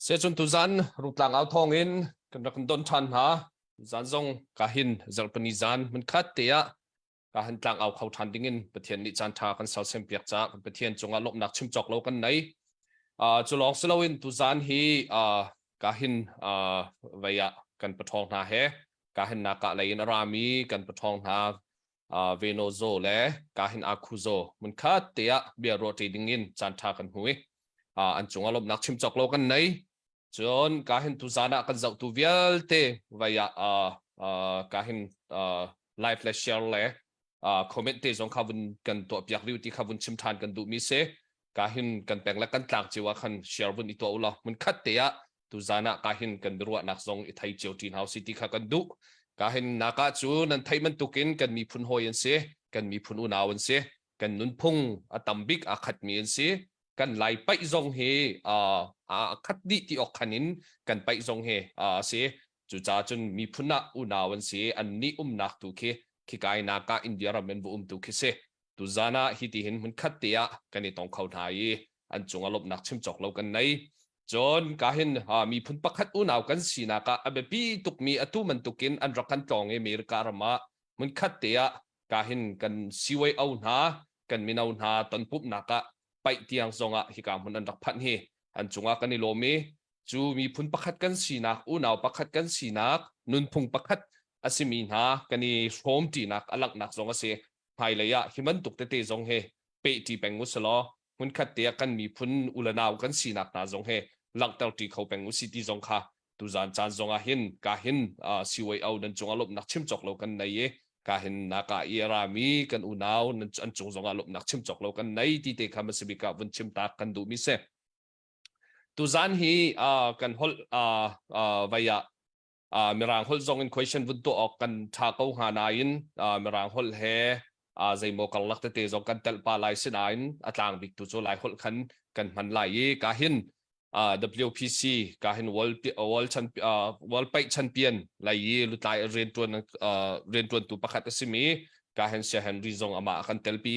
Secun tuzan rutlang au thong in kan rak kan don than hna. Zan zong ka hin zarhpini zan mun khat te ah ka han tlangau kho ṭhan ding in Pathian nih caan ṭha kan sersiam piak caah Pathian cungah lawmhnak chim cawk lo kan nei. Uh, cu lawng si loin tuzan hi uh, ka hin uh, vei ah kan paṭhawng hna he ka hin naka lei in a rami kan paṭhawng hna uh, Venozo le ka hin Akuzo mun khat te ah bia ruah ṭi ding in caan ṭha kan hui. Uh, an cungah lawmhnak chim cawk lo kan nei. cun ka hin tuzan ah kan zohtu vialte vai ah ka hin live le share le comment te zong kha vun kan tuah piak rih ti kha vun chim than kan duh mi si ka hin kan peng le kan tlak ciu ah khan share vun i tuah ula mun khat te ah tuzan ah ka hin kan ruah nak zong i thai cio tin hau si ti kha kan duh ka hin naka cu nan thai man tukin kan miphun hoi an si kan miphun unau an si kan nunphung a tam bik aa khatmi an si. Kan lai paih zong hi aa khat dih ti awk khan in kan paih zong hi a si. Cucaah cun miphun ah unau an si i annih umnak tu khi khikainak ah India ram an va um tu khi si. Tuzan ah hi ti hin hmunkhat te ah kan i tong kho hna i an cungah lawmhnak chim cawk lo kan nei. Cun ka hin miphun pakhat unau kan sinak ah a biapi tukmi atu bantukin an rak kan tlawng i America ram ah hmunkhat te ah ka hin kan siwei-o hna, kan mino hna tonpumhnak ah paih tiang zongah hika hmun an rak phanh hi an cungah kan i lawm i cu miphun pakhat kan sinak, unau pakhat kan sinak, nunphung pakhat a simi hna kan i hrawmṭinak a langhnak zong a si. Hmailei ah hi bantuk tete zong hi pehṭi peng usih law hmunkhat te ah kan miphun u le nau kan sinak hna zong he langhter ṭi kho peng usih ti zong kha tuzan caan zongah hin ka hin CYO nan cungah lawmhnak chim cawk lo kan nei i ka hin naka i rami kan unau an cung zongah lawmhnak chim cawk lo kan nei ti te kha masabika vun chim tak kan duh mi se tuzan hi kan holh vai ah mirang holh zong in question vun tuah awk kan tha ko hnga nain mirang holh he zeimaw karlak tete zong kan telh pa lai sinain a tlang bik tu cu lai holh khan kan hman lai i ka hin WPC ka hin world world pei champion lai i lutlai riantuan riantuan tu pakhat asimi ka hen sia henry zong ama kan telpi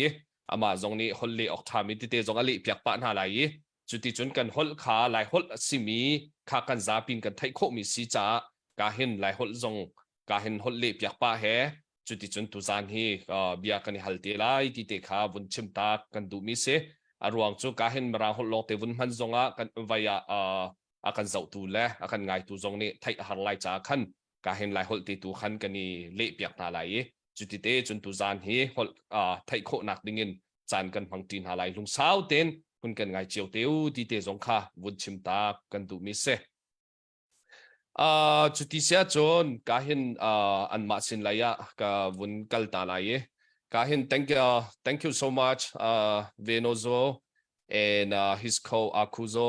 ama zong nih holh le ok thami tete zong a leh piak pa hna lai i Cuticun kan holh kha Laiholh a simi kha kan zapi in kan theih khawhmi si caah ka hin Laiholh zong ka hin holh lehpiak pah he cuticun tuzaan hi bia kan i hal te lai ti te kha vun chim tak kan duhmi si. A ruang cu ka hin Mirangholh lawngte vun hman zongah kan vai ah a kan zohtu le a kan ngaitu zong nih theih a har lai caah khan ka hin Laiholh te tu khan kan i lehpiak hna lai i cuti te cun tuzaan hi holh theih khawhnak dingin caan kan hmang ṭi hna lai lungsau tein hun kan ngai cio te u ti te zong kha vun chim ta kan duhmi si uh, cu ti sia cun ka hin uh, anmah sin lai ah ka vun kal ta lai i ka hin thank you thank you so much uh, Venozo and uh, his co Akuzo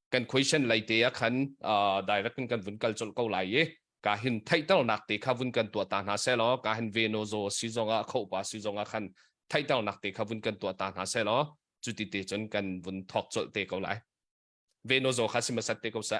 kan question lai te ah khan direct in kan vun kal colh ko lai i ka hin theihternak te kha vun kan tuah ta hna se law ka hin veno zo si zong ah khopa si zong ah khan theihternak te kha vun kan tuah ta hna se law cu ti te cun kan vun thok colh te ko lai veno zo kha si masat te ko sa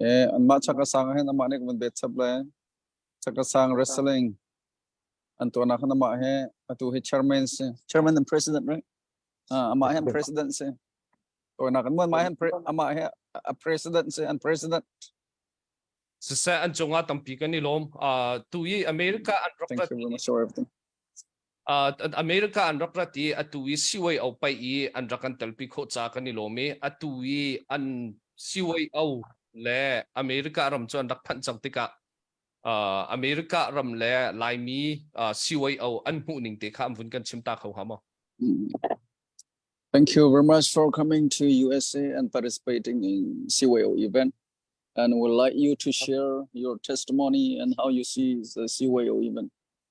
Eh anmah chakka sang hin amah nih kan bet chap le chakka sang wrestling an tuahnak hin amah hi atu hi chairman si chairman and president right uh, amah hi an president si tuahnak an muan mai hi an pre- amah hi a president si an president siseh an cungah tampi kan i lawm uh, tu i america an rak Thank you very much for everything. Uh, America an rak rat i atu i siwai au pai i an rak an telpi khawh ca kan i lawm i atu i an siwai au le America ram cu an rak phanh cang tikah uh, America ram le Laimi uh, siwai au an hmuh ning te kha am vun kan chim ta kho ha maw Thank you very much for coming to USA and participating in CYO event. And would like you to share your testimony and how you see the CYO event.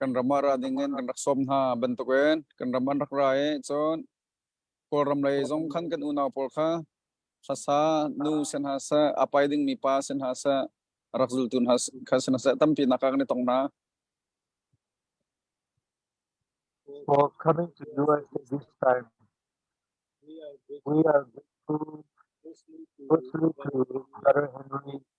kan ram ah ra ding in kan rak som hna bantuk in kan ram an rak ra i cun kawlram lei zong khan kan unau pawl kha hlasa nu sen ha sa apai dingmi pa sen ha sa rak zultu hna kha sen ha sa tampi nak kan i tong na For coming to us this time, we are grateful firstly to Brother Henry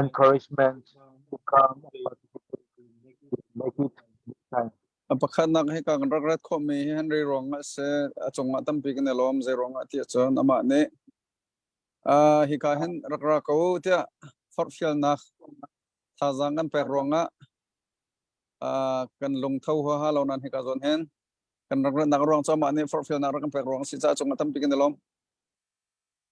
Encouragement become a pakhatnak hi kan rak rat khawhmi hi han rei ruangah si a cungah tampi kan i lawm zei ruangah tiah cun amah nih uh, hika hin rak ra ko tiah forhfialnak thazaang kan pek ruangah uh, kan lungtho huaha lo nan hika zawn hin kan rak ratnak ruang cu amah nih forhfialnak rak kan pek ruang a si caah cungah tampi kan i lawm.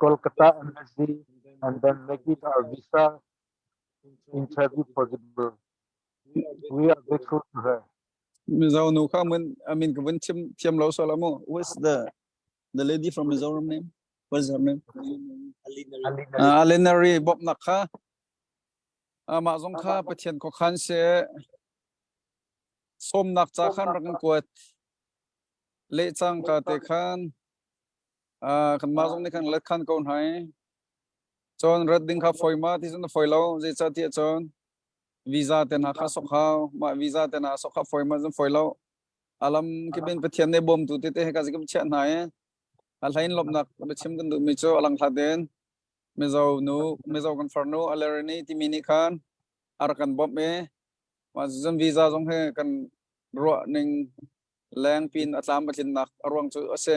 Kolkata Embassy and then make it our visa interview possible. We are grateful to her. Mizo nu kha mun amin ka vun chim thiam lo so lamu. Who's the the lady from Mizoram name? What's her name? Alina. Alina Ri Bob nak kha. Ama zong kha Pathian ko khan se som nak cha khan rakan kuat le chang ka te khan kanmah zong nih khan let khan ko hna i cun rat ding kha foi ma ti cun a foi lo zeicahtiah cun visa te hna kha sok hau mah visa te hna sok kha foi ma cun foi lo a lam kibin pathian nih bawmtu te te heka zikip chiah hna i a hlain lomnak biachim kan duhmi cu alang hlaten mizo nu mizo kan farnu alerani timi nih khan ar kan bawmh i mah cun visa zong he kan ruah ning lengpin a tlam patlinnak a ruang cu a si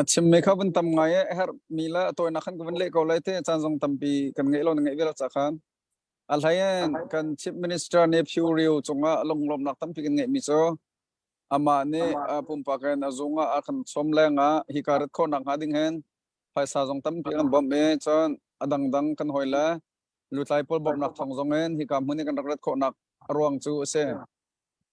A chimmi kha vun tam ngai a herhmi le a tawinak khan ka vun leh ko lai te caan zong tampi kan ngeih lo na ngeih ve lo ca khan a hlein kan chief minister nih Phu Rio cungah lunglawmnak tampi kan ngeihmi cu amah nih pumpak in a zung ah a kan chawm lengah hika rat khawhnak hnga ding hen phaisa zong tampi an bawmh i cun a dangdang kan hoi le lutlai pawl bawmhnak thawng zong in hika hmun i kan rak rat khawhnak a ruang cu a si.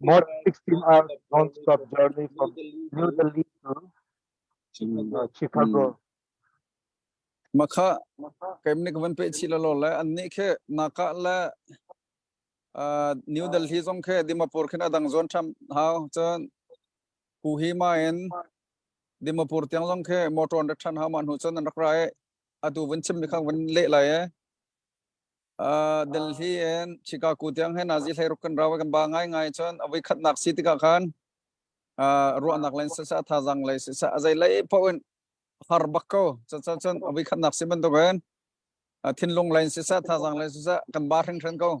Mod 16 are non-stop journey from New Delhi to uh, Chicago. Maka kemnik van pe chi la lo le an ni khe naka le uh, New Delhi zong khe Dimapur khin adang zon tham hau chan ku hi ma en Dimapur tiang zong khe motor da than hau man hu chan an rak rai atu van chim mi khang van le lai e Uh, Delhi and Chicago tiang he nazi hleiruk kan rawa kan ba ngai ngai chon avoi khatnak si tika khan uh, ruahnak len sa sa thazang lei sa sa azai lei poin har bakko cha cha chon avoi khatnak si ban to kan thinlung len sa sa thazang lei sa sa kan ba ring hren ko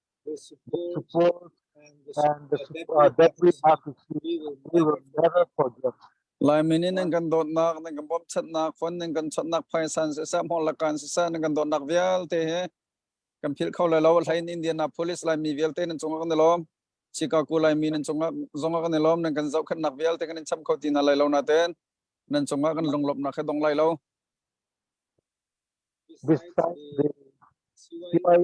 Suppose and the uh, debris are to keep, we will never forget. Laimin in nan kan dawtnak nan kan bawmchatnak fon nan kan chawtnak phaisan se sa mol lakan se sa nan kan dawtnak vialte he kan phil kho lai lo hlain Indiana police laimi vialte nan cung kan lom Chicago laimi nan cung zong kan lom nan kan zau khatnak vialte kan in cham kho ti na lai lo na ten nan cung kan lunglop na khe dong lai lo Despite the CY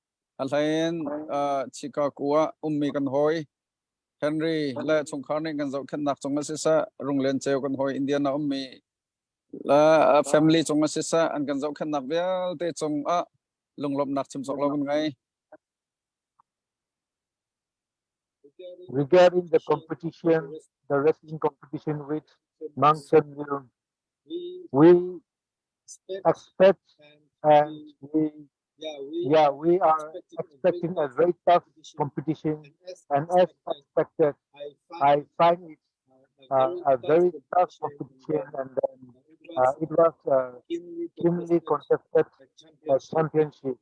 a hlein Chicago ah ummi kan hawi Henry le chungkhar nih kan zohkhenhnak cung ah sisah Runglian ceu kan hawi Indian a ummi le family cung ah sisah an kan zohkhenhnak vialte cung ah lunglawmhnak chimsawk lo kan ngei. Regarding the competition, the wrestling competition with Mountain Mill, we expect and we Yeah, we are expecting a very tough competition, and as expected, I find it uh, a very tough competition, and then uh, it was a keenly contested uh, championship.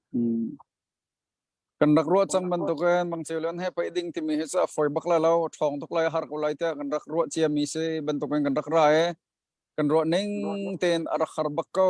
kan rak ruah chan bantukin mang cheu len he pai ding timi hi cha foi bak la lo thong tuk lai har ko lai te kan rak ruah chia mi si bantukin kan rak ra e kan ruah ning ten a rak har bak ko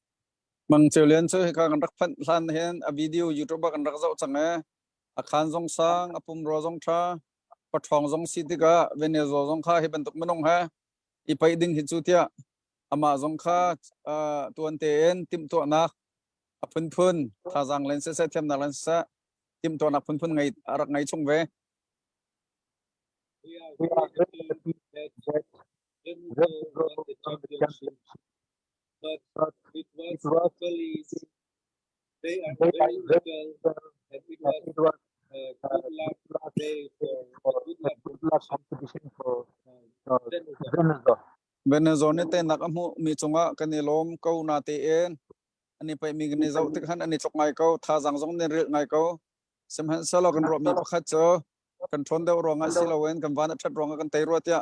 Mang Ceu Lian cu hika kan rak phanh hlan hin a video YouTube ah kan rak zoh cang ee. A khaan zong sang, a pumrua zong ṭha, paṭhawng zong si tikah Venezuela zong kha hi bantuk minung he i paih ding hi cu tiah amah zong kha uh, tuan tein timhtuahnak a phunphun thazaang len siseh thiamnak len siseh timhtuahnak phunphun ngei a rak ngei chung ve. Referee Championship It was so easy. They are very local, and it was a good luck day for good luck competition for uh, Venezuela. Venezuela ne te nak a hmu mi chungah kan i lawm ko na te en ani pai mi kan i zau tik han ani chok ngai ko tha zang zong ne ril ngai ko sem han selo kan ro mi pakhat cho kan thon deu ronga si lo en kan van a that ronga kan tei ro tia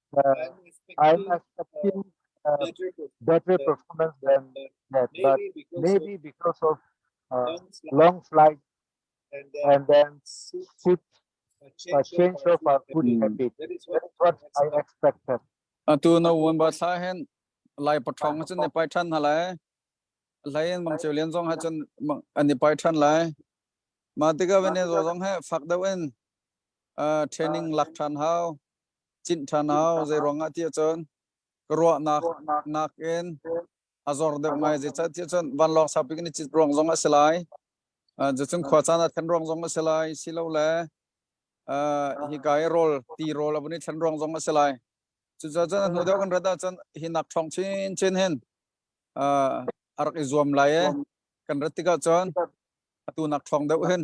I have seen better performance than that, but maybe because of uh, long flight and then food a change of our food habit. That's what I expected. atu no un ba thla hen lai pathong cun ne pai than halai lai en bang cheu lian zong ha cun bang an ni pai than lai ma tika vene zo zong he fak deuh in uh training lak than hau Cinh ṭhanau, zeiruangah tiah cun ka ruahnak nakin a zor deuh ngai. Zeicah tiah cun vanlawng saupi kan i cit ruang zong a si lai. Cucun khua caan ah thlen ruang zong a si lai, silole hika i rawl, ti rawl a vun i thlen ruang zong a si lai. Cucaah cun a hnu deuh kan rat ahcun hi nak ṭhawng chinchin hin a rak i zuam lai i kan rat tikah cun atu nak ṭhawng deuh hin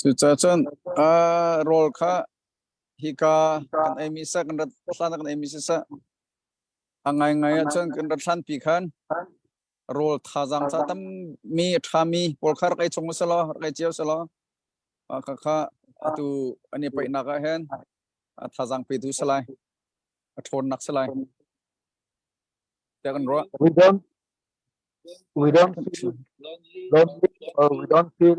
Cucacun rawl kha hika kan eimi seh kan rat hlanak kan eimi siseh a ngaingai ahcun kan rat hlanpi khan rawl thazaang tha tammi a ṭhami pawl kha rak ei chung usilaw rak ei cio usilaw khakha atu an i paihnak ah hin thazaang petu si lai a ṭhawnnak si lai tiah kan ruah. We don't we don't feel lonely or we don't feel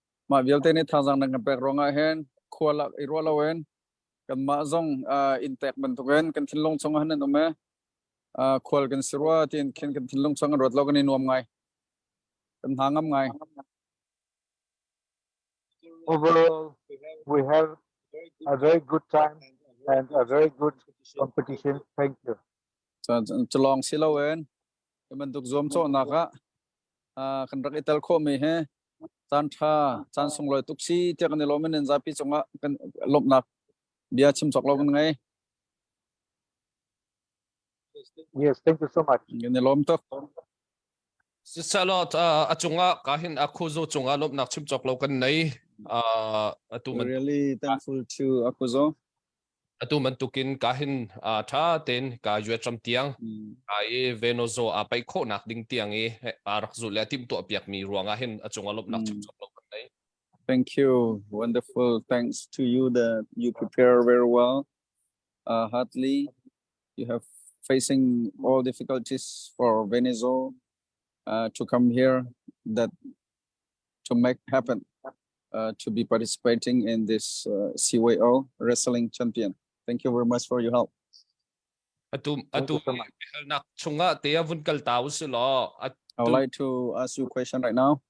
Mah vialte nih thazaang nan kan pek ruangah hin khua lak i ruah loin kanmah zong uh, in tek bantukin kan thinlung chungah nan um e uh, khual kan si rua tiin khin kan thinlung chungah ruat lo kan i nuam ngai kan hna ngam ngai overall we have a very good time and a very good competition thank you calong siloin kan bantuk zuam cho nak ah kan rak i tel kho mi he caan ṭha caan sunglawi tuk si tiah kan i lawm in nan zapi cungah kan lawmhnak bia chim cawk lo kan ngei. Yes, thank you so much. Kan i lawm tuk. Sisalaw a cungah kahin a khuzo cungah lawmhnak chim cawk lo kan nei. Uh, atu man really thankful to Akuzo. atu bantukin ka hin ṭha tein ka yuatram tiang ka i venozo a paih khawhnak ding tiang i a rak zulh le timhtuahpiakmi ruangah hin a cung a lawmhnak chungchang lo kan nei. Thank you. Wonderful. Thanks to you that you prepare very well. Uh, Hartley, you have facing all difficulties for Venezuela uh, to come here that to make happen uh, to be participating in this uh, CYO Wrestling Champion. Thank you very much for your help. Atum atum halnak chunga te avun kal ta usilo. I would like to ask you a question right now.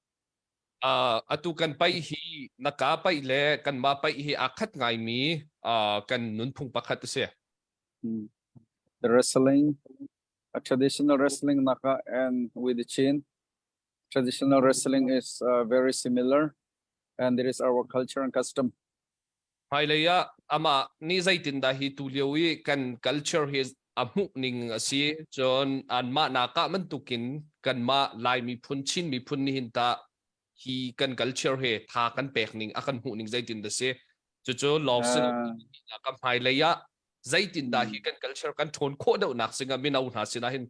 Uh, atu kan pai hi naka pai le kan ma pai hi akhat ngai mi uh, kan nunphung pakhat se. Hmm. The wrestling, a traditional wrestling naka and with the chin. traditional wrestling is uh, very similar and it is our culture and custom. Hmailei ah amah nih zeitindah hi tu lio i kan culture hi a hmuh ning a si cun an mah nakah bantukin kan mah lai miphun Chin miphun ni hin ta hi kan culture he tha kan pek ning a kan hmuh ning zeitin da si cucu lawngsin ah kan hmailei ah zeitin da hi kan culture kan ṭhawn khawh deuh nak singa mino hna sinah hin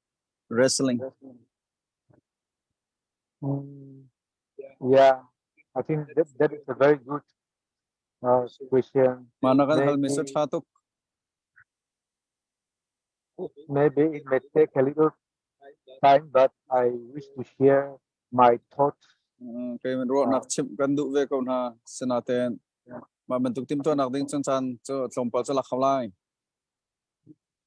Wrestling. Yeah, I think that, that is a very good uh, question. Mana kan hal message ha tuk. Maybe it may take a little time, but I wish to share my thoughts. Okay, men ruah nak chim kan du ve ko na senaten. Ma men tuk tim to nak ding chan chan cho tlom pa cho lak khalai.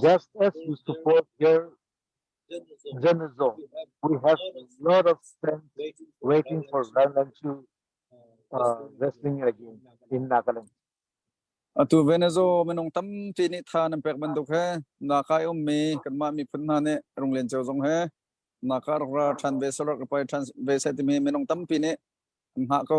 Just as we support their journalism, we have a lot of friends waiting for Valentine uh, wrestling again in Nagaland. Atu Venezo minung tampi nih tha nan pek bantuk he na kai um mi kanmah mi phun hna nih runglen cio zong he na ka ra than ve solar ka pai than ve sai timi minung tampi nih an hah ko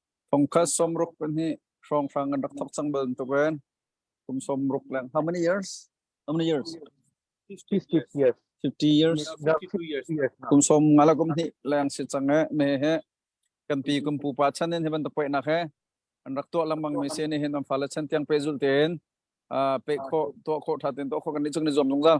Thongkhat sawmruk pahnih hrawnghrang an rak thok cang bantukin kum sawmruk leng. How many years? How many years? 50 years. 50 years. Kum som ngala kum hnih leng si cang e me he kan pi kum pu pa chan in heban tapoi nak he an rak tua lambang mi se ni hin am fala chan tiang pe zul ten a pe kho tua kho tha ten to kho kan ni chung ni zom lung zal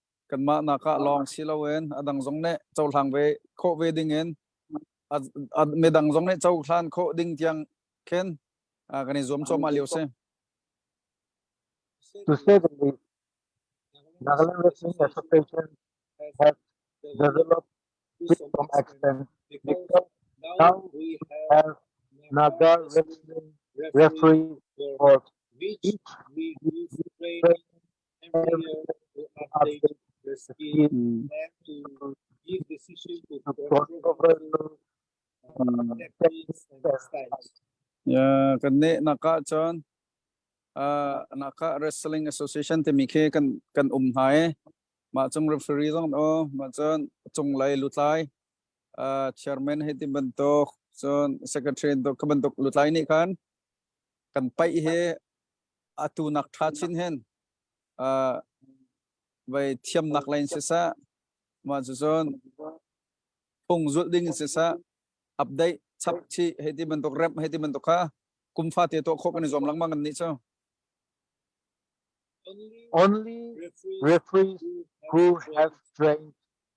kanmah nak ah lawng si loin a dang zong nih cohlang ve khawh ve ding in midang zong nih cohlan khawh ding tiang khin kan i zuam cuahmah lio si. To say the least, Nagaland Revenue Association has developed some extent because now we have Naga Revenue Referee Board. Each Yeah, kan ne nakah cun uh, nakah Wrestling Association timi khi kan kan um hna i mah cung referee zong o mah cun cunglei lutlai uh, chairman hei ti bantuk cun secretary bantuk ka bantuk lutlai nih khan kan paih hi atu nak tha chin hen uh, vai thiam nak lain si sa ma chu chon phung zul ding si sa update chap chi he ti man tok rep he ti man tok kha kum fa te to kho kan zom lang mang an ni cho only referees who have trained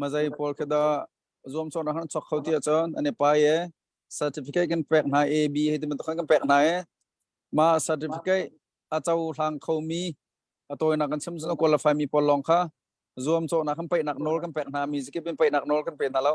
Mazai pawl kha da zuamcawr ahar chok kho ti ahcun ane pai e certificate kan pek hna A B he tibantuk kan pek hna e ma certificate aco hlang kho mi atawinak kan chim zun qualify mi pawl lawng kha zuamcawhnak kan peihnak nawl kan pek hna mi zikip in peihnak nawl kan pe hna lo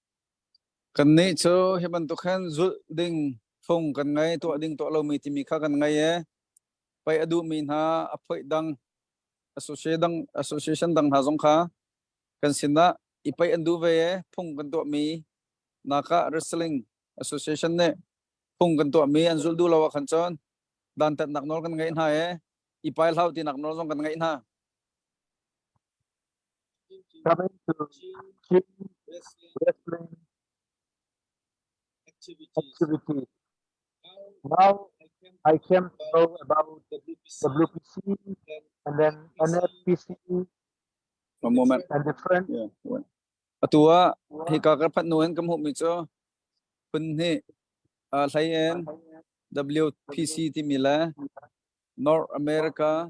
Kannih cu hi bantuk hin zulh ding, phung kan ngei, tuah ding, tuah lomi timi kha kan ngei i pei a duhmi hna, a phoih dang, association dang hna zong kha kan sinah i pei an duh ve i phung kan tuahmi nakah wrestling association nih phung kan tuahmi an zulh duh lo ahkhan cun dantatnak nawl kan ngeih hna i i pai hlah u tinak nawl zong kan ngeih hna. Current cu Chin Wrestling Activity now I can know about WPC and then NFPC One moment. and different Yeah. one. Atu ah hika ka phat nu hin ka hmuhmi cu phun hnih aa hlei in WPC timi le North America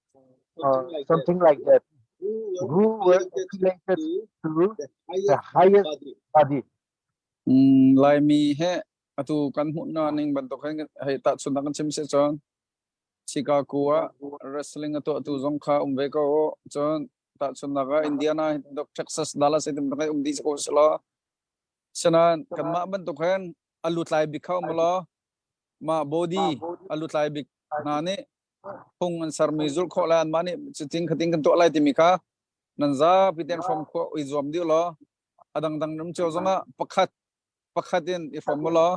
uh, something like that, who were affiliated to the highest body. Mm, Laimi he atu kan hmuhna ning bantuk hen hei ta chunak kan chim se chon Chicago a wrestling atu atu zong kha um ve ko chon ta chunak a Indiana dok Texas Dallas item kai um di ko selo senan kan ma bantuk hen alu tlai bik khau molo ma body alu tlai bik na ni Phung an sermi zulh khawh lai anmah nih cutin khatin kan tuah lai timi kha nan zapi ten hrawm khawh i zuam dih law a dangdang ram cio zong ah pakhat pakhat in i hrawm u law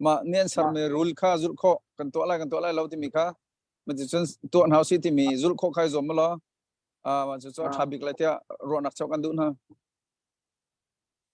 mah nih an sermi rul kha zulh khawh kan tuah lai kan tuah lai lo timi kha ma ticun tuah hna si timi zulh khawh khai zuam u law uh, cucu a ṭha bik lai tiah ruahnak cheuh kan duh hna.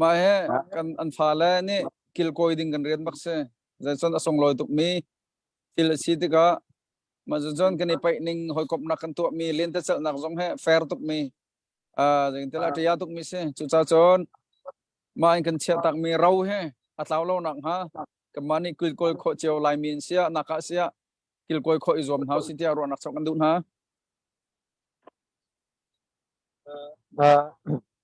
Mah hi kan an fale nih kil kawi ding kan rian bak si. Zeicun a sunglawi tukmi thil a si tikah mah cun kan i paih ning hawikomhnak kan tuahmi lentecelhnak zong hi fair tukmi uh, zeingtilah ṭia tukmi si. Cucaah cun mah in kan chiahtakmi ro hi a tlau lo nak hnga kanmah nih kilkawi khawh cio laimi in sia naka sia kilkawi khawh i zuam hna si tiah ruahnak chok kan duh hna. Uh,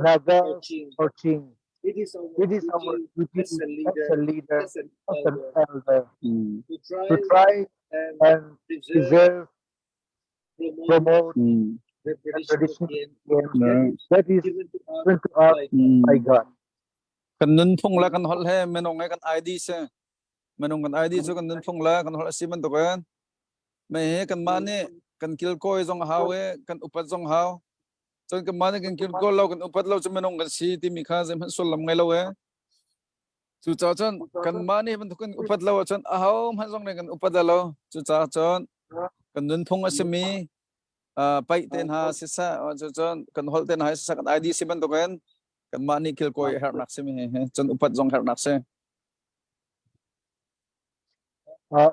Nagar Cochin. It is our duty as a leader, as an elder, to try and preserve, promote the tradition that is given to us by God. Kan nunphung la kan hol he menong ngai kan ID se. Menong kan ID chu kan nunphung la kan hol asi man to kan. Me he kan ma ne kan kil koi zong hau e kan upat zong hau Cun kanmah nih kan kirkaw lo kan upat lo cu minung kan si timi kha zeihmanh sullam ngei lo e. Cucaah cun kanmah nih bantuk kan upat lo ahcun aho hmanh zong nih kan upat a lo. Cucaah cun kan nunphung a simi uh, paih te hna sisah, cun kan holh te hna sisah, kan ID si bantuk in kanmah nih kilkawi a herhnak simi cun upat zong herhnak si. Uh,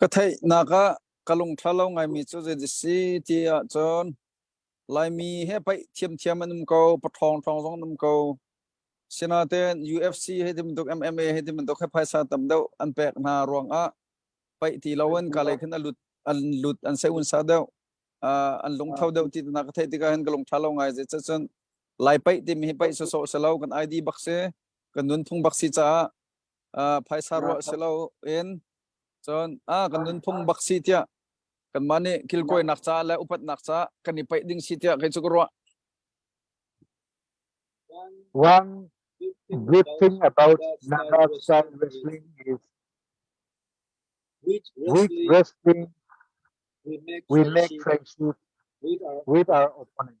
Ka theihnak ah ka lungṭha lo ngaimi cu zeidah a si ti ahcun Laimi he paih thiamthiam an um ko, paṭhawngṭhawng zong an um ko. Sinain UFC hei ti bantuk MMA hei ti bantuk he phaisa tam deuh an pek hna ruangah paih ti lo in kalei khin a lut an lut an seunsa deuh uh, an lungtho deuh ti na ka theih tikah hin ka lungṭha lo ngai zeicah cun lai paih timi hi paih sawsawh si lo kan ID bak si kan nunphung bak si caah phaisa ruah si lo in cun a kan nunphung bak si tiah kanmah nih kilkuainak ca le upatnak ca kan i paih ding si tiah kei cu ka ruah One good thing about Nanasan wrestling is with wrestling we make friendship with our opponents.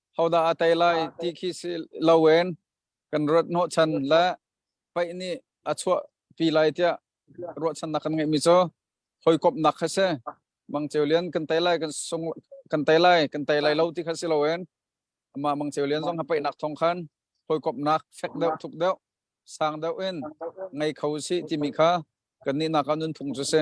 hodah a tei lai ti khi si loin kan ruat hnawh chan le paih nih a chuahpi lai tiah ruahchannak kan ngeihmi cu hawikawmhnak kha si mang ceu lian kan tei lai kan sung kan tei lai kan tei lai lo ti kha si loin amah mang ceu lian zong ha paihnak thong khan hawikawmhnak fek deuh thuk deuh sang deuh in ngei kho si timi kha kan nih nak ah nun phung cu si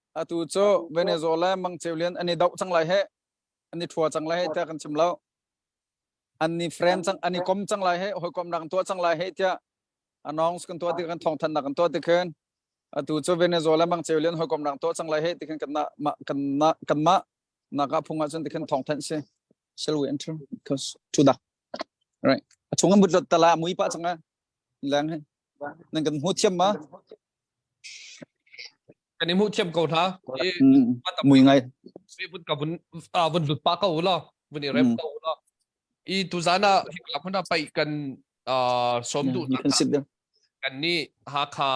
Atu cu Venezuela mangceu lian an i doh cang lai heh. An i thua cang lai heh tiah kan chim lo. An ni frem cang an i kom cang lai heh hawikom nak tuah cang lai heh tiah announce kan tuah ti kan thawng than nak kan tuah ti khin atu cu Venezuela mangceu lian hawikom nak tuah cang lai heh ti khin kan kan kan ma naka phung ah cun ti khin thawng than si shall we enter because to da right a chung an mut lot tala mui pa changa lang he nan kan mu thiam ma Kan i hmuh thiam ko hna. I mui ngai. Vun ka vun ah vun lut pa ko la, vun i rem ko la. I tu zan ah hikla huna pai kan som du na kan ni Hakha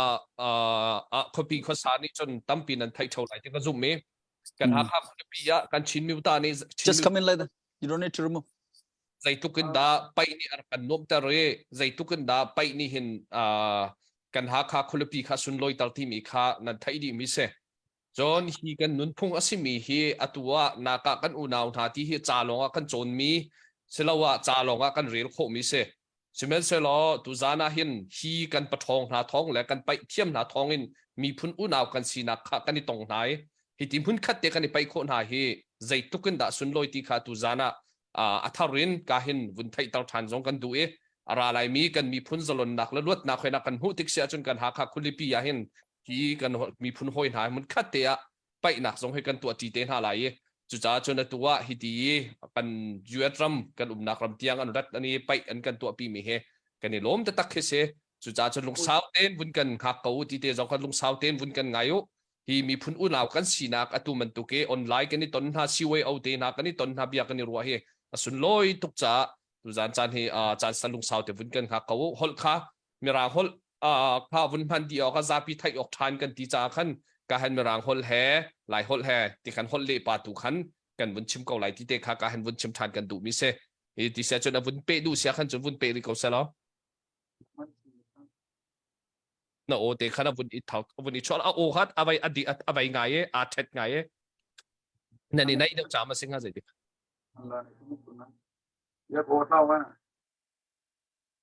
khopi khosa ni chun tampi nan thai chau lai ti ka zoom mi kan Hakha khopi ya kan Chin mi ta ni just come in later you don't need to remove zeitluk in dah paih nih a rak kan nuamhter i zeitluk in dah paih nih hin kan Hakha khualipi kha sunlawiter timi kha nan theih dih mi si. Cun hi kan nunphung a simi hi atu ah naka kan unau hna ti hi ca lawng ah kan cawn mi si lo ah ca lawng ah kan rel khawh mi si. Sihmanhsehlaw tuzan ah hin hi kan paṭhawng hna thawng le kan paih thiam hna thawng in miphun unau kan sinak kha kan i tong hna i hi ti hmunkhat te kan i paih khawh hna hi zeitluk in dah sunlawi ti kha tuzan ah a thar in ka hin vun theihter ṭhan zong kan duh i a ra laimi kan miphun zalonnak le luatnak hoi nak kan hmuh tik si ahcun kan Hakha khualipi ah hin hi kan miphun hawi hna hmunkhat te ah paihnak zong hi kan tuahṭi te hna lai i cucaah cun atu ah hiti i kan US ram kan umnak ram tiang an rat an i paih an kan tuahpimi hi kan i lawm taktak khi si cucaah cun lungsau tein vun kan hngak ko ti te zong kan lungsau tein vun kan ngai u hi miphun unau kan sinak atu bantuk i online kan i ton hna CYO te hna kan i ton hna bia kan i ruah hi a sunlawi tuk caah tuzan caan hi caan san lungsau te vun kan hngak ko u holh kha Mirang holh kha vun hman dih awk a zapi theih awk ṭhan kan ti caah khan kahan Mirang holh he Lai holh he ti khan holh le pa tu khan kan vun chim ko lai ti te kha kahan vun chim ṭhan kan duhmi si hi ti siah cun a vun peh duh siah khan cun vun peh rih ko selaw na aw te khan a vun i thok a vun i chol a aw kha a vai a di a vai ngai e a thet ngai e na ni nai deuh cham a sing ha zei ti ya bo tao ma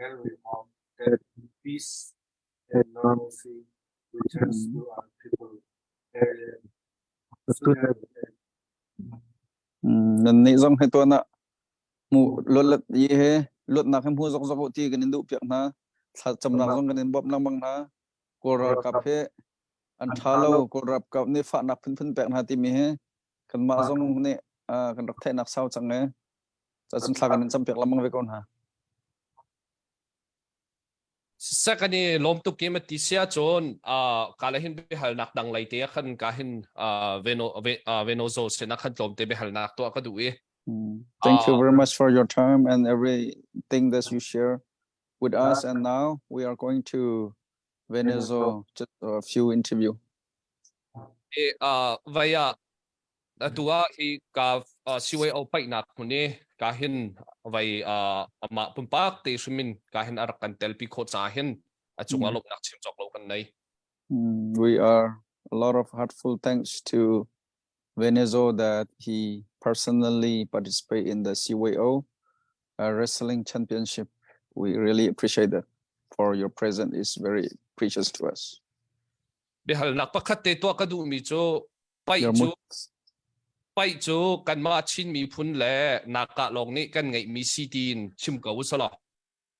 Elrimong, Ted and Peace, and Normancy, which are school-art people, Aryan, student, and nan neih zong he tuan ah mu lolat ye he luatnak he mu zokzok u ti kan in duh piak hna thlacamnak zong kan in bawmh lengmang hna kawl ralkap he an tha lo kawl ralkap nih fahnak phunphun pek hna timi he kanmah zong nih kan rak theihnak sau cang e cun thla kan in campiak lamang ve ko hna second i lawm tuk kim ti sia chon ka la hin be hal nak dang lei te khan ka hin veno veno zo se na khan tlom te be hal nak to ka du i thank you very much for your time and everything that you share with us and now we are going to Venezo just a few interview E, uh, vai ah atu ah hi ka uh, CYO paihnak hmun i ka hin vai uh, ama pumpak te hrimin ka hin arak kan tel pi kho ca hin a chung a lomnak chim chok lo kan nei. Mm, we are a lot of heartful thanks to Venezuela he personally participate in the CYO uh, wrestling championship. We really appreciate that. For your presence is very precious to us. Bihalnak pakhat te tua ka duh mi cu pai Your cu pai cu kanmah Chin miphun le naka lawng nih kan ngeih mi si tiin chim ko usala.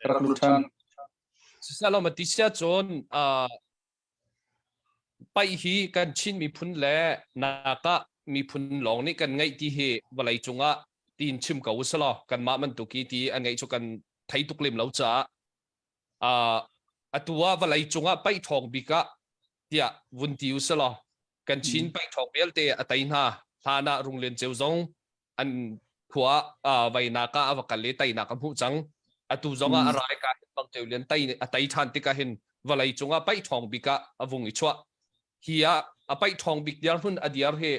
ka rak lut ṭhan. Cucaah lawm a ti siahcun uh, paih hi kan Chin miphun le nakah miphun lawng nih kan ngeih ti hi vawlei cungah tiin chim ko usih law kanmah bantuk i ti an ngeih cu kan thei tuk lem lo caah uh, atu ah vawlei cungah paih ṭhawng bik ah tiah vun ti usih law kan Chin paih ṭhawng vialte a tei hna hlan ah Runglian Ceu zong an khua ah vainak ah a va kal i teinak a hmuh cang atu zong ah a mm. rai ka hin bang teu lian tei a tei than tikah hin vawlei cungah paih thawng bik ah a vung i chuah hi a a paih thawng bik diar hun a diar hi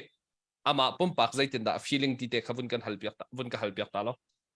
ama pumpak zeitin dah feeling ti te kha vun kan hal piak vun ka hal piak ta lo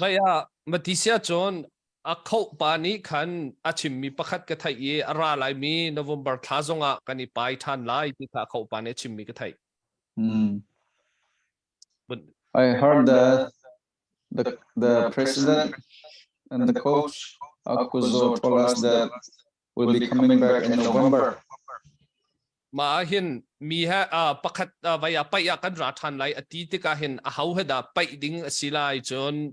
Mei ah Matthis cun a khoh pa nih khan a chimmi pakhat ka theih i a ra laimi November thla zong ah kan i pai ṭhan lai ti kha a khoh pa nih a chimmi ka theih. I heard that the, the president and the coach Akkuzo told us that will be coming back in November. Ma hin mi ha pakhat vai a pai a kan ra than lai ati tikah hin a hau he da pai ding a si lai cun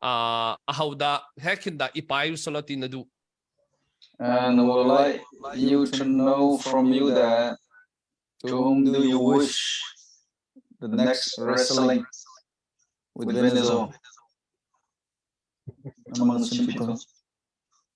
a hau da he khin da i pai solati na du And I would like you to know from you that to whom do you wish the next wrestling within the zone? Among some people.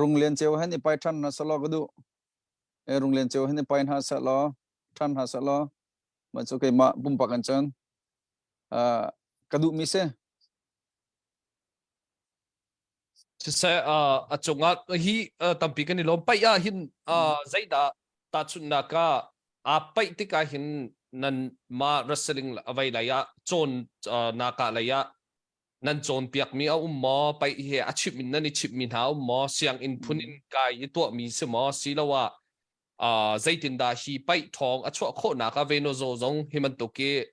rung len cheu han i pai than hna sa law ka du e rung len cheu han i pai hna sa law than hna sa law man chu keimah bumpak an chan ka duh mi se se a cungah hi tampi kan i lom pai a hin zaida ta chunna ka a pai tika hin nan ma rasaling avai lai a chon naka lai a nan cawnpiakmi a um maw? Paih he a chimh in nan i chimhmi hna a um maw? Sianginn phun in kai i tuahmi si maw siloah uh, zeitindah hi paih thawng a chuah khawhnak ah Venozo zong hi bantuk i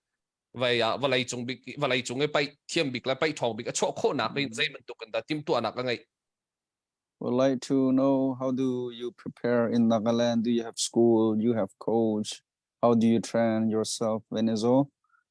vai ah vawlei cung bik vawlei cung i paih thiam bik le paih thawng bik a chuah khawhnak in zei bantuk in dah timhtuahnak a ngeih? Would like to know how do you prepare in Nagaland? Do you have school? You have coach? How do you train yourself, Venezo?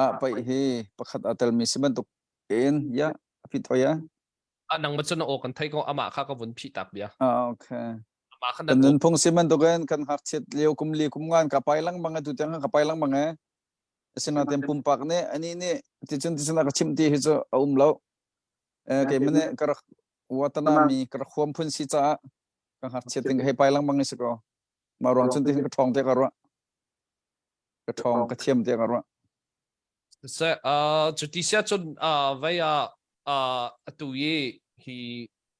ah pei hi pakhat a telmi si bantuk in ya a fit oi ya anang ma chuna o kan thai ko ama kha ka vun phi tak bia ah okay ama khan kan nun phung si bantuk in kan hak chiat leo kum li kum ngan ka pai lang bang tu tang ka pai lang bang e asina tem pumpak ne ani ne ti chun ti chuna ka chim ti hi chu a um lo eh ke mene ka watana mi ka khwam phun si cha ka hak chiat ting hei pai lang bang is ko ma ron chun ti ka thong te ka ro ka ṭhawng ka thiam tiang a ruah. So, uh, cu ti sia cun uh, vai ah uh, atu i hi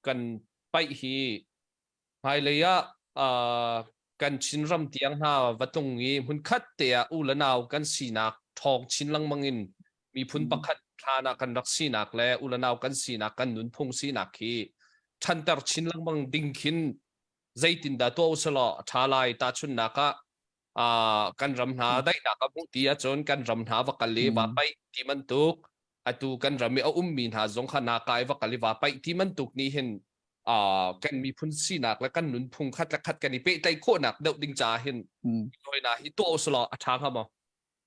kan paih hi hmailei ah uh, kan Chinram tiang hna va tung i hmunkhat te ah u le nau kan sinak ṭhawng chin lengmang in miphun pakhat hlan ah kan rak sinak le u le nau kan sinak kan nunphung sinak hi ṭhanter chin lengmang ding khin zeitin dah tuah usalaw a ṭha lai tahchunnak ah Ah, kan ram hna daihnak a hmuh ti ahcun kan ram hna va kal i va Mm. paih ti bantuk atu kan ram i a ummi hna zong kha nakaa i va kal i va paih ti bantuk nih hin ah, kan miphun sinak le kan nunphung khat le khat kan i pehtlaih khawhnak deuh ding caah hin Mm. hna hi tuah usulaw a ṭha hnga maw?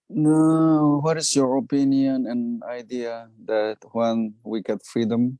No, what is your opinion and idea that when we get freedom,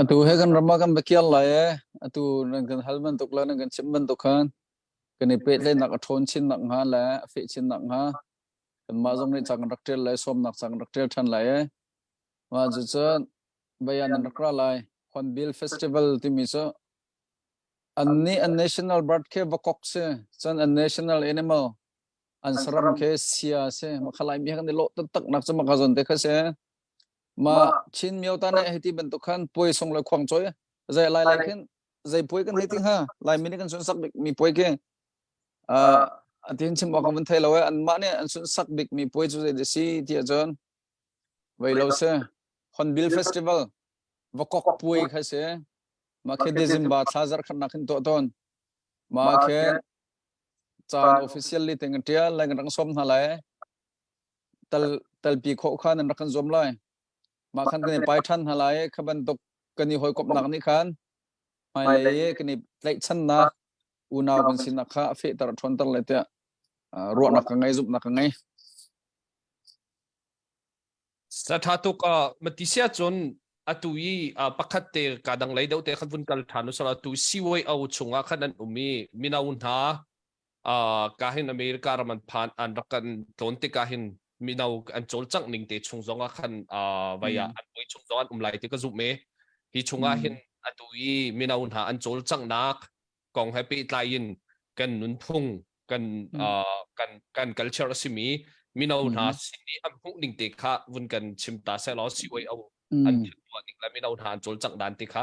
Atu he kan ram ah kan va kiar lai ee. Atu nan kan hal bantuk le nan kan chimh bantuk khan kan i pehtlaihnak a ṭhawn chinnak hnga le a feh chinnak hnga kanmah zong nih ca kan rak ṭial lai, sawmnak ca kan rak ṭial ṭhan lai ee. Mah cucun bayan an rak ra lai. Hornbill Festival timi cu an nih an national bird khi va kok si. Cun an national animal an saram khi sia si. Mah kha Laimi he kan i lawh taktaknak cu maka zon te kha si. Ma Chin myo ta ne hiti bantuk khan puai sung le khuang choi zai lai lai khin zai puai kan hei ti ha lai mi kan sun sak bik mi puai ke a atin chim wa kan van thai lo an ma ne an sun sak bik mi puai chu zai de si ti jon vei lo se Hornbill Festival va kok puai kha se ma khe December thla zar khan na khin to ton ma khe chan officially tengan tia lai kan rang som na lai talpi khawh khan an rak kan zuam lai. Mah khan kan i pai ṭhan hna lai. Kha bantuk kan i hawikomhnak nih khan hmailei i kan i tlaihchannak unau kan sinak kha a fehter a ṭhawnter le tiah ruahnak ka ngei, zumhnak ka ngei. Saṭha tuk mati si ahcun atu i pakhat te kaa dang lei deuh te khan vun kal ṭhan usal atu COO chungah khan an um i mino hna uh, ka hin America ram an phan an rak kan tlon te ka hin mino an cawlcangh ning te chung zong ah khan uh, vai ah an voi chung zong an um lai te ka zu me hi chungah hin atu i mino hna an cawlcanghnak kong he pe tlai in kan nunphung kan uh, kan kan culture a simi mino hna sini an hmuh ning te kha vun kan chim ta se law si oi au an tuah ning le mino hna an cawlcangh dan te kha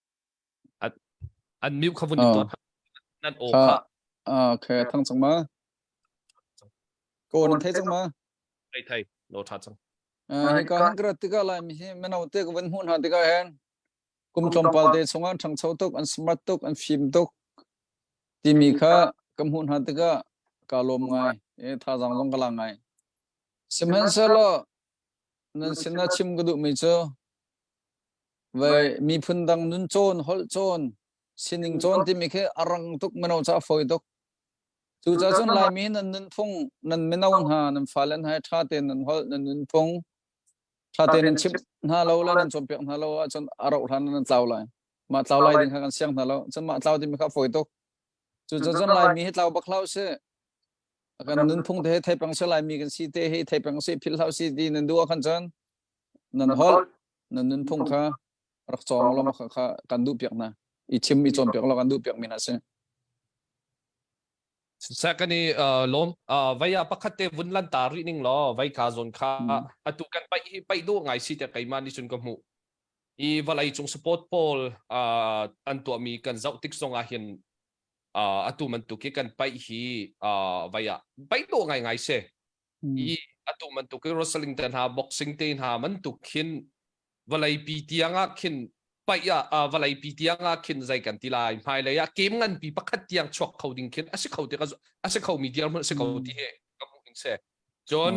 an mute kha vun in tuah nan aw kha okay thang chang ma ko nan thai chang ma thai thai lo tha chang hi ka han kra tika lai mi hi menau te ko van hu na tika hen kum tlom pal te chunga thang chau tuk an smart tuk an phim tuk ti mi kha kam hu na tika ka lom ngai e tha jang long kala ngai simhan selo Nan sinah chim ka duhmi cu vei miphun dang nun cawn, holh cawn, sining cawn timi khi a rang tuk mino cu a fawi tuk. Cucaah cun Laimi nan nunphung nan mino hna nan fale hna hi ṭha tein nan holh, nan nunphung ṭha tein nan chimh hna lo le nan cawnpiak hna lo ahcun a rauh hlan nan tlau lai. Mah tlau lai ding kha kan siang hna lo. Cun mah tlau timi kha a fawi tuk. Cucaah cun Laimi hi tlau bak hlah usih. kan nunphung te theipang se lai mi kan si te he theipang se phil hlau si ti nan duwa khan chan nan hol nan nunphung kha rak chong lo kha kha kan du piak na i chim i chom piak lo kan du piak mi na se secondly uh lom uh vaya pakhat te vun lan ta ri ning lo vai ka zon kha atu kan pai hi pai du ngai si te kai ma ni sun ko mu i valai chung support pol uh an tua mi kan zau tik songa hin uh, atu bantuk i kan paih hi uh, vai ah paih to ngai ngai se i atu bantuk i wrestling te hna boxing te hna bantuk khin vawlei pi tiang ah khin paih ah uh, vawlei pi tiang ah khin zai kan ti lai hmai lei ah kem ngan pi pakhat tiang chuak kho ding khin asi kho ti ka a si kho mi tiang si kho ti he ka hmu ding se John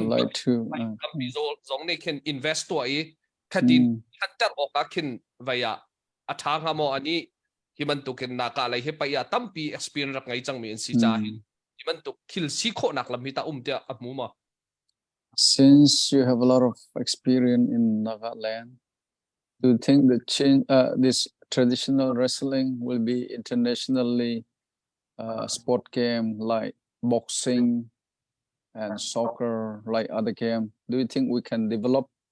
tampi zong nih khin invest to i khatin hunter awk ah khin vaya a ṭha hnga maw a nih hi bantukin naka lei hi pei ah tampi experience rak ngei cangmi an si caah hin hi bantuk thil si khawhnak lam hi tah um tiah a hmu maw? Since you have a lot of experience in Nagaland, do you think the change, uh, this traditional wrestling will be internationally uh, sport game like boxing and soccer, like other game? Do you think we can develop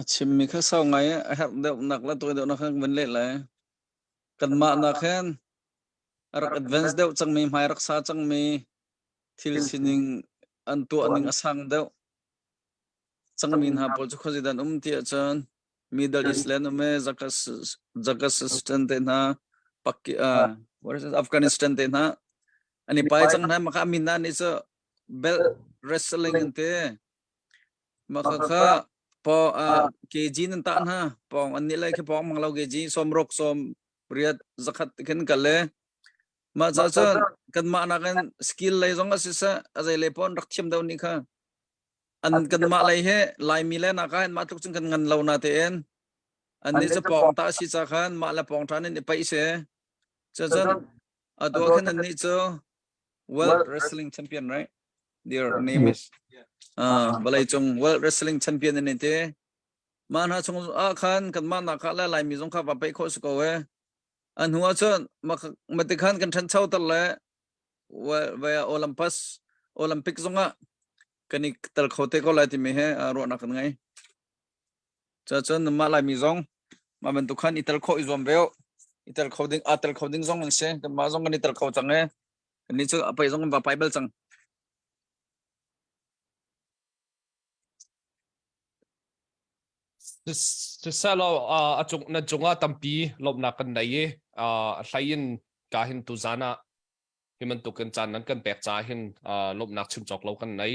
A chimmi kha sau ngai i a herh deuhnak le tawi deuhnak kha kan vun leh lai. Kanmah nak hin a rak advance deuh cangmi, hmai rak sa cangmi, thil sining an tuahning a sang deuh. Cangmi hna pawl cu khuazi dan um ti ahcun Middle East le an um i Zakastan te hna, Pakistan, Afghanistan te hna. An i pai cang hna. Maka min hna nih cu belt wrestling an te makha kha po kg nan ta na pong an ni lai khi pong mang lo kg som rok som riat zakhat ken kale ma cha cha kan ma na kan skill lei zong asi sa azai le pon rak thiam dau ni kha an kan ma lai he lai mi le na ka ma tluk chun kan ngan lo na te en an ni se pong ta si cha khan ma la pong than ni pai se cha cha A dawh khan annih cu World Wrestling Champion, right? Their name is uh, vawlei cung World Wrestling Champion an ti. Mah hna chung ah khan kan mah nak kha la lai mi zong kha va pe kho su ko e. An hua chun ma ti khan kan than chau tar le vaya Olympus Olympic zong ah kan i tel kho te ko lai ti mi he ro nak kan ngai. Cacun nanmah Laimi zong mah bantuk khan i tel khawh i zuam ve u. I tel kho ding, aa tel kho ding zong an si. Kanmah zong kan i tel kho cang e. Kannih cu a pei zong kan va pai bal cang. Siselaw a cung na cungah tampi lawmhnak kan nei i a hlei in ka hin tuzan ah hi bantukin caan nan kan pek caah hin lawmhnak chim cawk lo kan nei.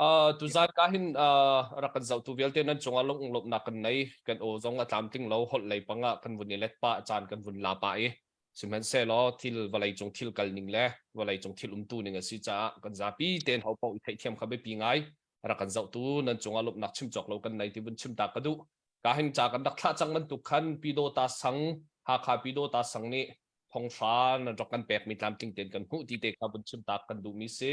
Uh, tuzan ka hin uh, rak kan zau tu vialte nan chunga lung lop nak kan nei kan o zong a tlam tling lo hol lei panga kan vun i let pa chan kan vun la pa i sihman se lo thil valei cung thil kal ning le valei cung thil um tu ning a si cha kan za pi ten ho pau i thei thiam kha be pi ngai rak kan zau tu nan chunga lop nak chim chok lo kan nei ti vun chim ta ka du ka hin cha kan dak thla chang nan tuk khan pido ta sang hakha pido ta sang ni thong sha nan rok kan pek mi tlam ting ten kan hu ti te kha vun chim ta kan du mi si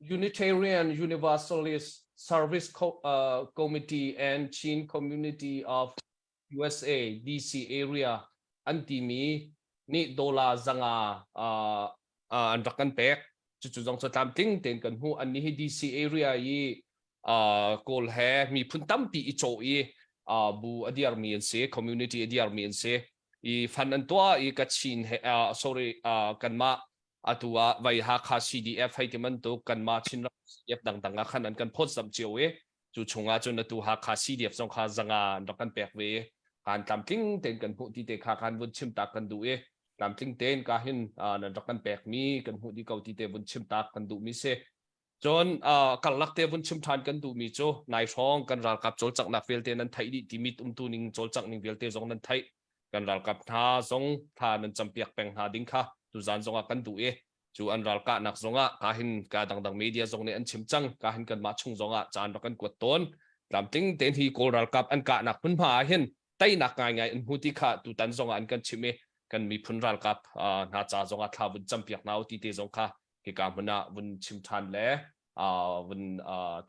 Unitarian Universalist Service Co uh, Committee and Chin Community of USA DC area an timi nih dola zanga uh, uh, an rak kan pek cucu zong cu tlam tling tein kan hmu an ni hi DC area i uh, kawl he miphun tampi i chaw i uh, bu adiar mi an si community adiar mi an si i fan an tuah i kachin he uh, sorry uh, kanmah atu ah vai hakha cdf hei ti bantuk kanmah chin ram cdf dangdang ah khan an kan phot sam cio i cu chungah cun atu hakha cdf zong kha zanga an rak kan pek ve kan tlamtling ten kan hmuh ti te kha kan vun chim tak kan du i tlamtling ten ka hin nan rak kan pek mi kan hmuh di ko ti te vun chim tak kan du mi se Cun karlak te vun chim ṭhan kan duhmi cu nai hrawng kan ralkap cawlcanghnak vialte nan theih dih ti mit umtu ning cawlcangh ning vialte zong nan theih. Kan ralkap hna zong thla nan campiak peng hna ding kha tuzaan zongah kan duh i cu an ral kahnak zongah ka hin ka dangdang media zong nih an chim cang ka hin kanmah chung zongah caan rak kan kuat tawn tlamtling tein hi kawl ralkap an kahnak hmunhma ah hin teinak ngaingai an hmu ti kha tutan zongah an kan chimh i kan miphun ralkap hna ca zongah thla vun campiak hna u ti te zong kha hika hmun ah vun chim ṭhan le vun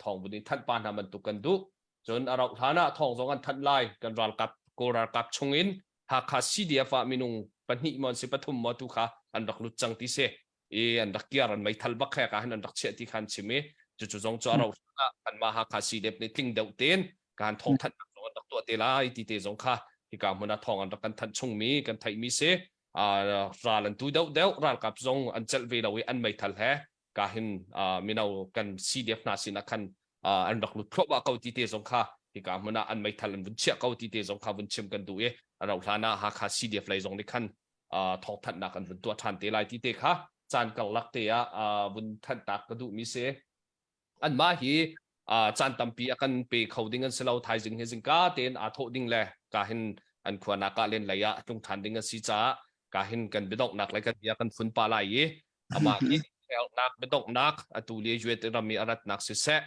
thawng vun in thanh pa hna bantuk kan duh cun a rauh hlan ah thawng zong an thanh lai kan ralkap kawl ralkap chungin Hakha CDF ah minung pahnih maw si pathum maw tu kha an rak lut cang ti si i an rak kiar an meithal bak he ka han an rak chiah ti khan chim i cucu zong cu a rauh hlan ah kan ma Hakha CDF nih tling deuh ten kan thawng thanh zong an rak tuah te lai ti te zong kha hika hmun ah thawng an rak kan thanh chungmi kan theihmi si uh, ral an tu deuh deuh ralkap zong an celh ve lo i an meithal he ka hin uh, mino kan CDF hna sinah khan uh, an rak lut khawba ko ti te zong kha hika hmun ah an meithal an vun chiah ko ti te zong kha vun chim kan du i a rauh hlan ah Hakha CDF lei zong nih khan uh, thawhthannak an vun tuah than te lai ti te kha caan karlak te ah uh, vun thanhtak ka duh mi si anmah hi caan tampi a kan pe kho ding an si lo thaizing hi zingka tein aa thawh ding le ka hin an khuanak ah len lei ah tlung ṭhan ding an si caah ka hin kan biadonghnak le kan bia kan phun pa lai i amah hi herhnak biadonghnak atu le UAT ram i a ratnak siseh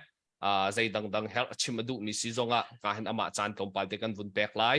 zei dangdang herh a chim a duhmi si zongah ka hin amah caan tlawmpal te kan vun pek lai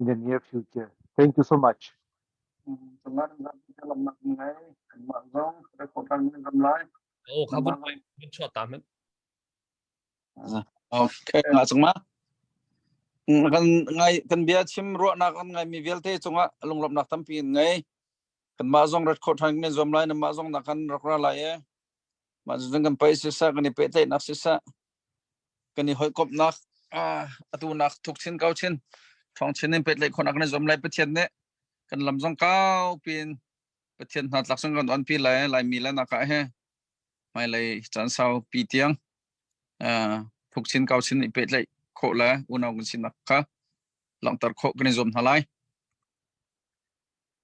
in the near future. Thank you so much. Dengan dalam ngai mak zong rekotan ram lai. Oh, kabut mai min chua ta men. Okay, nga chung ma. Kan ngai kan bia chim ruwa nak an ngai mi vialte chunga lunglop nak tampi in ngai. Kan ma zong record than men zom lai na ma zong na kan rakra lai e. Mah cucun kan pei siseh, kan i pehtlaihnak siseh, kan i hawikomhnak atunak thuk chin ko chin. Ṭhawng chin in pehtlaih khawhnak kan i zuam lai Pathian nih. Kan lam zong kaupi in Pathian hna tlak sung kan onpi lai. Laimi le nakah hi hmailei caan saupi tiang thuk chin ko chin i pehtlaih khawh le unau kan sinak kha langhter khawh kan i zuam hna lai.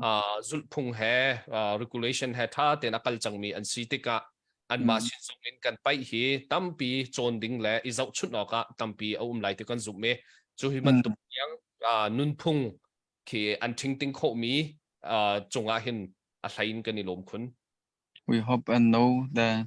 uh, zulhphung he uh, regulation he tha tein a kal cangmi an si tikah anmah mm. sin zong in kan paih hi tampi cawn ding le i zohchunh awk ah tampi a um lai ti kan zumh i cu hi bantuk mm. yang uh, nunphung khi an tingting khomi uh, cungah hin a hlain kan i lawm khun We hope and know that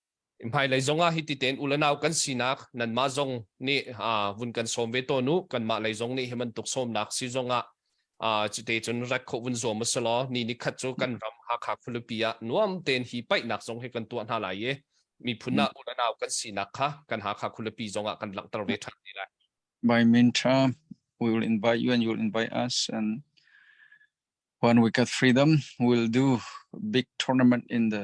hmailei zong ah hiti tein ulenau kan sinak nanmah zong nih vun kan sawm ve tawn u kanmah lei zong nih hi bantuk sawmnak si zong ah cite cun rat khawh vun zuam a si law ni ni khat cu kan ram Hakha khualipi ah nuam tein hi paihnak zong hi kan tuah hna lai i miphun ah ulenau kan sinak kha kan Hakha khualipi zong ah kan langhter ve ṭhan lai. By Mintra, we will invite you and you will invite us and when we get freedom we'll do big tournament in the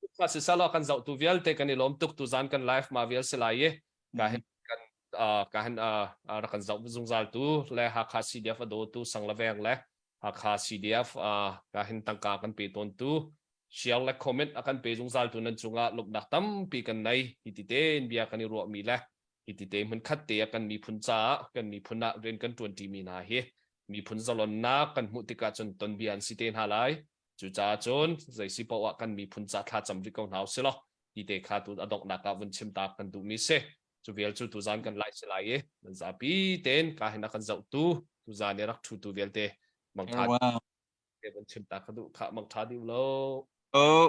Tukka siseh law kan zohtu vialte kan i lawm tuk. Tuzaan kan live ma vial si lai i ka hin kan uh, ka hin uh, uh, rak kan zoh zungzaltu le Hakha CDF a dawtu Sanglaveng le Hakha CDF uh, ka hin tangka kan pe tawntu share le comment a kan pe zungzaltu nan cungah luknak tampi kan nei hiti tein bia kan i ruahmi le hiti te hmun khat te a kan miphun caah kan miphun ah rian kan tuanti mi hna hi miphun zalonnak kan hmuh tikah cun ton bia an si te hna lai Cucaah cun zei si paoh ah kan miphun ca thlacam rih ko hna u silaw hi te kha tu adonghnak ah vun chim ta kan duhmi si. Cu vial cu tuzan kan lai si lai i nan zapi tein ka hin a kan zohtu tuzan i rak thutu vialte mangtha te vun chim ta ka duh kha mangtha dih u law. Oh.